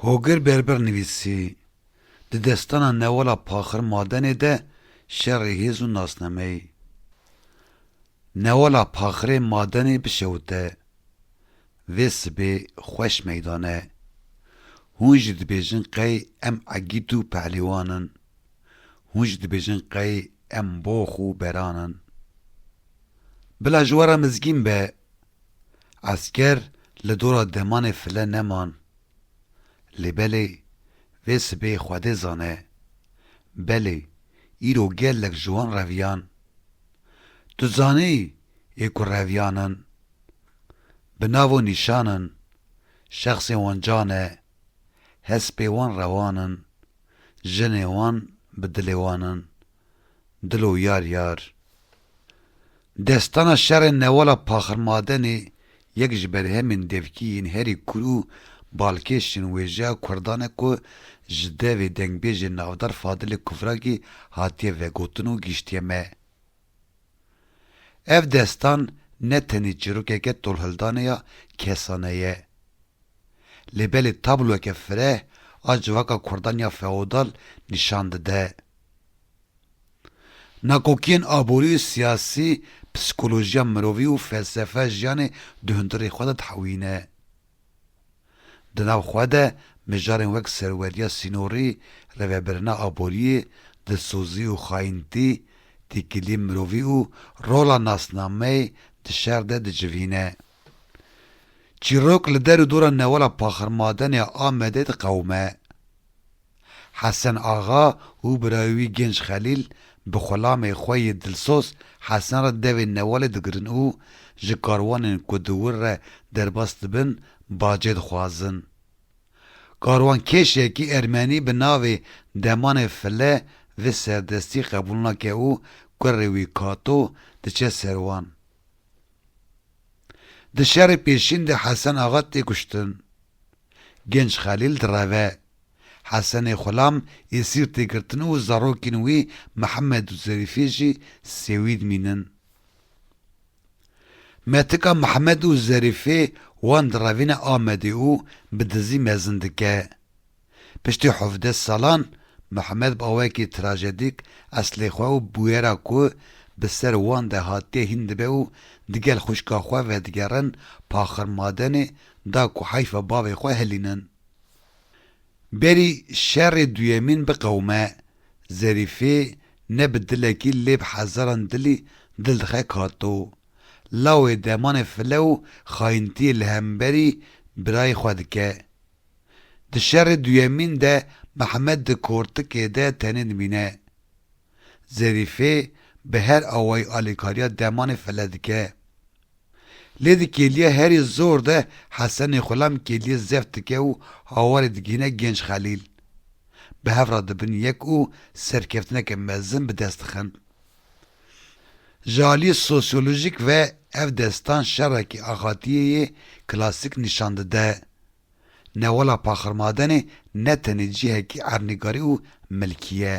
Hogir Berber nivîsî, Di destana Newala Paxir Madenê de şerê hêz û nasnameyî. Newala Paxirê Madenê bi şewite. Vê sibê xweş meydan e. Hûn jî dibêjin qey em egît û pehlîwan in. Hûn jî dibêjin qey em box û beran in. Bila ji we re mizgîn be. Esker li dora demanê file neman. Lê belê vê sibê Xwedê zane. Belê îro gelek ji wan reviyan. Tu zanî yê ku reviyan in. Bi navo nîşan in. Şexsê wan can e. Hespê wan rewan in. Jinê wan bi dilê wan in. Dilo yar yar. Destana şerê newala Paxirmadenê yek ji berhemên devkî yên herî kûr û balkêş yên wêjeya kurdan e ku ji devê dengbêjê navdar Fadilê Kufrakî hatiye vegotin û gihştiye me. Ev destan ne tenê çîrokeke tolhildanê ya kesane ye. Lê belê tabloyeke fireh a civaka kurdan ya feodal nîşan dide. Nakokiyên aborî û siyasî psîkolojiya mirovî û felsefe jiyanê di hundirê xwe de dihewîne. Di nav xwe de mijarên wek serweriya sînorî, rêvebirina aboriyê, dilsozî û xayintî, têkiliyên mirovî û rola nasnameyê di şer de dicivîne. Çîrok li der û dora Newala Paxirmadenê ya Amedê diqewime. Hesen Axa û birayê wî Genç Xelîl bi xulamê xwe yê dilsoz Hesen re devên newalê digirin û ji karwanên ku di wir re derbas dibin bacê dixwazin. Karwankêşekî ermenî bi navê Demanê File vê serdestî qebûl nake û kurê wî Kato diçe ser wan. Di şerê pêşîn de Hesen Axa tê kuştin. Genç Xelîl direve. Hesenê Xulam ê Sîrtê girtin û zarokên wî Mihemed û Zerîfê jî Sêwîd mînin. Me tika Mihemed û Zerîfê wan direvîne Amedê û bi dizî mezin dike. Piştî hevdeh salan Mihemed bi awayekî trajedîk eslê xwe û bûyera ku bi ser wan de hatiye hîn dibe û digel xwişka xwe vedigerin Paxirmadenê da ku heyfa bavê xwe hilînin. Berî şerê duyemîn biqewime, Zerîfê ne bi dilekî lê bi hezaran dilî dil dixe kato. Lawê demanê file û xayintiyê li hemberî birayê xwe dike. Di şerê duyemîn de Mehmet di kortikê de tenê dimîne. Zerîfê bi her awayî alîkariya demanê file dike. Lê di kêliya herî zor de Hesenê Xulam kêliyê zeft dike û hawarê digihîne Gênc Xelîl. Bi hev re dibin yek û serkeftineke mezin bi dest dixin. Ji aliyê sosyolojîk ve ev destan şerekî axatiyê yê klasîk nîşan dide. Newala Paxirmadenê ne tenê cihekî ernîgarî û milkî ye.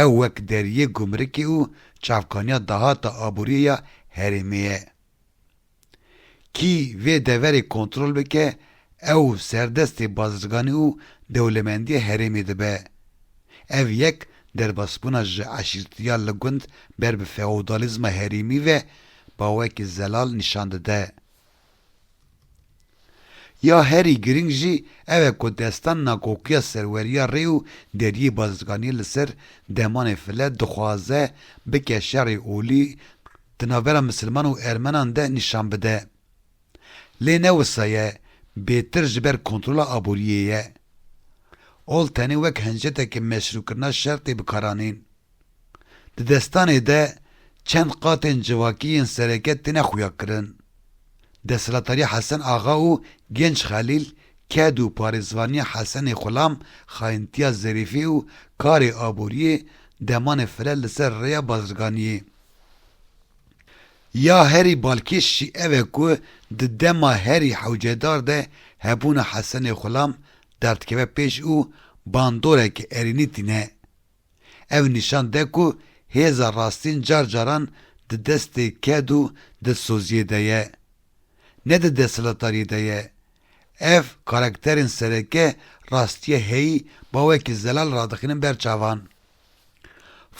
Ew wek deriyê gumrikê û çavkaniya dahata aboriyê ya herêmê ye. Kî vê deverê kontrol bike ew serdestê bazirganî û dewlemendiya herêmê dibe. Ev yek derbasbûna ji eşîrtiya li gund ber bi feodalîzma herêmî ve bawekî zelal nîşan dide. Ya herî girîng jî ew e ku destan nakokiya serweriya rê û deriyê bazirganiyê li ser demanê file dixwaze bike şerê olî di navbera misilman û ermenan de nîşan bide. Lê ne wisa ye, bêtir ji ber kontrola aboriyê ye. Ol tenê wek hinceteke meşrûkirina şer tê bikaranîn. Di destanê de çend qatên civakî yên sereke tine xuyakirin. Desthilatdarîya Hesen Axa û Genç Xelîl, ked û parêzvanîya Hesenê Xulam, xayintîya Zerîfî û karê aborîyê demanê firel li ser rêya bazirganîyê. Ya herî balkêş jî ev e ku di dema herî hewcedar de hebûna Hesenê Xulam derdikeve pêş û bandoreke erênî tîne. Ev nîşan de ku hêza rastîn car caran di destê ked û dilsoziyê de ye, ne di desthilatariyê de ye. Ev karakterên sereke rastiya heyî ma wekî zelal radixînin ber çavan.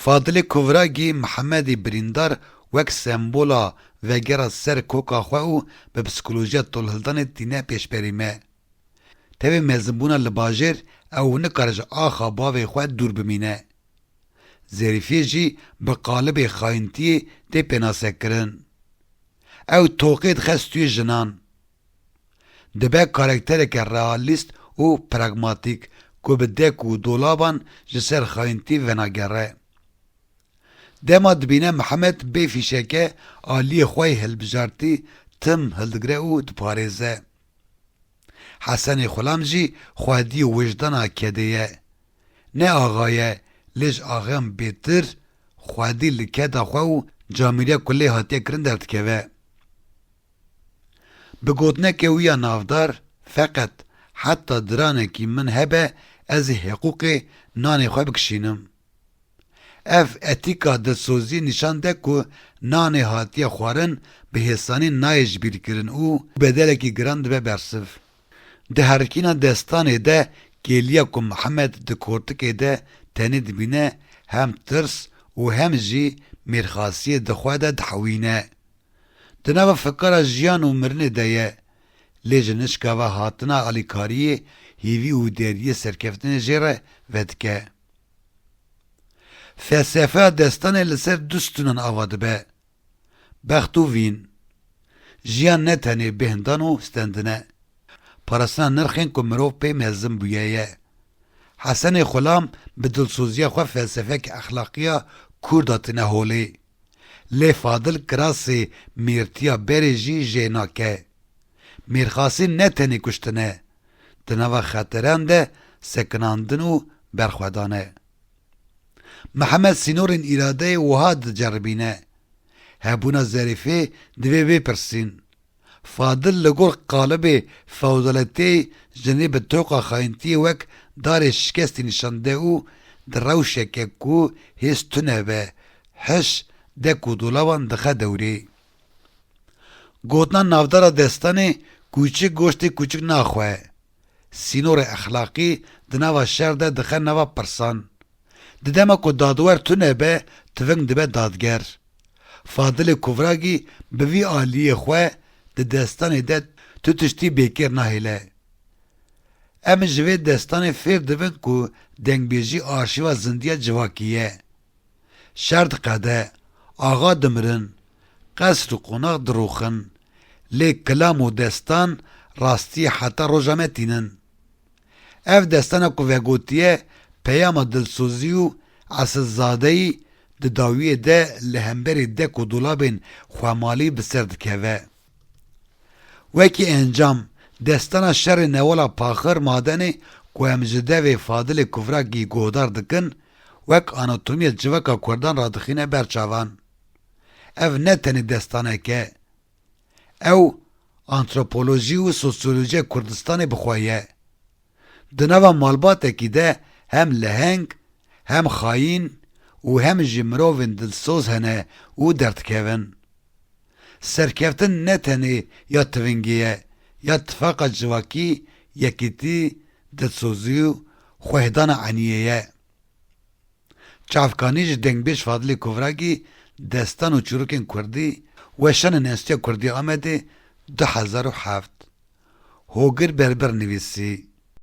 Fadilê Kovragî Mihemedî birîndar wek sembola vegera ser koka xwe û bi psîkolojiya tolhildanê tîne pêşberî me. Tevî mezinbûna li bajêr ew nikare ji axa bavê xwe dûr bimîne. Zêrîfiyê jî bi qalibê xayintiyê tê pênasekirin. Ew toqê dixe stûyê jinan. Dibe karaktereke realîst û pragmatîk ku bi dek û dolaban ji ser xayintî venagere. Dema dibîne Mihemed bê fîşeke aliyê xwe yê hilbijartî tim hildigre û diparêze. Hesenê Xulam jî xwedî û wijdana kedê ye. Ne axa ye lê ji axeyan bêtir xwedî li keda xwe û camîriya ku lê hatiye kirin derdikeve. Bi gotineke wî ya navdar Feqet heta diranekî min hebe ez ê hiqûqê nanê xwe bikişînim. Ev etîka dilsozî nîşan de ku nanê hatiye xwarin bi hêsanî nayê jibîrkirin û bedelekî giran dibe bersiv. Di herikîna destanê de kêliya ku Mihemed di kortikê de tenê dibîne hem tirs û hem jî mêrxasiyê di xwe de dihewîne. Di nava fikara jiyan û mirinê de ye, lê ji nişkava hatina alîkariyê hêvî û deriyê serkeftinê jê re vedike. Felsefeya destanê li ser du stûnan ava dibe, bext û vîn. Jiyan ne tenê bêhndan û stendin e. Parastina nirxên ku mirov pê mezin bûye ye. Hesenê Xulam bi dilsoziya xwe felsefeke exlaqiya kûr datine holê. Lê Fadil Kirasê mêrtiya berê jî jê nake. Mêrxasî ne tenê kuştin e, di nava xetiran de sekinandin û berxwedan e. Mihemed sînorên îradeyê wiha diceribîne, Hebûna Zerîfê divê vê pirsîn, Fadil li gor qalibê fewdaletiyê jinê bi toqa xayintiyê wek darê şikestî nîşan de û di rewşeke ku hêz tune be, hiş, de ku dolavan dixe dewrê. Gotina navdara destanê Kûçik goştê kûçik naxwe, sînorê exlaqî di nava şer de dixe nava pirsan. Di dema ku dadwer tune be, tiving dibe dadger. Fadilê Kuvragî bi vî aliyê xwe di destanê de tu tiştî bêkêr nahêle. Em ji vê destanê fêr dibin ku dengbêjî arşîva zindiya civakî ye. Şer diqede, axa dimirin, qesr û qonax dirûxin, lê kilam û destan rastî heta roja me tînin. Ev destana ku vegotiye peyama dilsozî û esilzadeyî di dawiyê de li hemberî dek û dolabên xwemalî bi ser dikeve. Wekî encam, desdana şerê Newola Paxir Madenê ku em ji devê Fadilê Kuvrakgî guhdar dikin, wek anatomiya civaka kurdan radixîne ber çavan. Ev ne tenê desdanek e. Ew antropolojî û sosyolojiya Kurdistanê bi xwe ye. Di nava malbatekî de hem leheng, hem xayîn û hem jî mirovên dilsoz hene û derdikevin. Serkeftin ne tenê ya tivingê ye, ya tifaqa civakî, yekîtî, dilsozî û xwehêdana eniyê ye. Çavkanî ji dengbêj Fadilê Kovragî Destan û çîrokên kurdî weşan in Enstîtuya Kurdî ya Amedê du hezar û heft Hogir Berber nivîsî.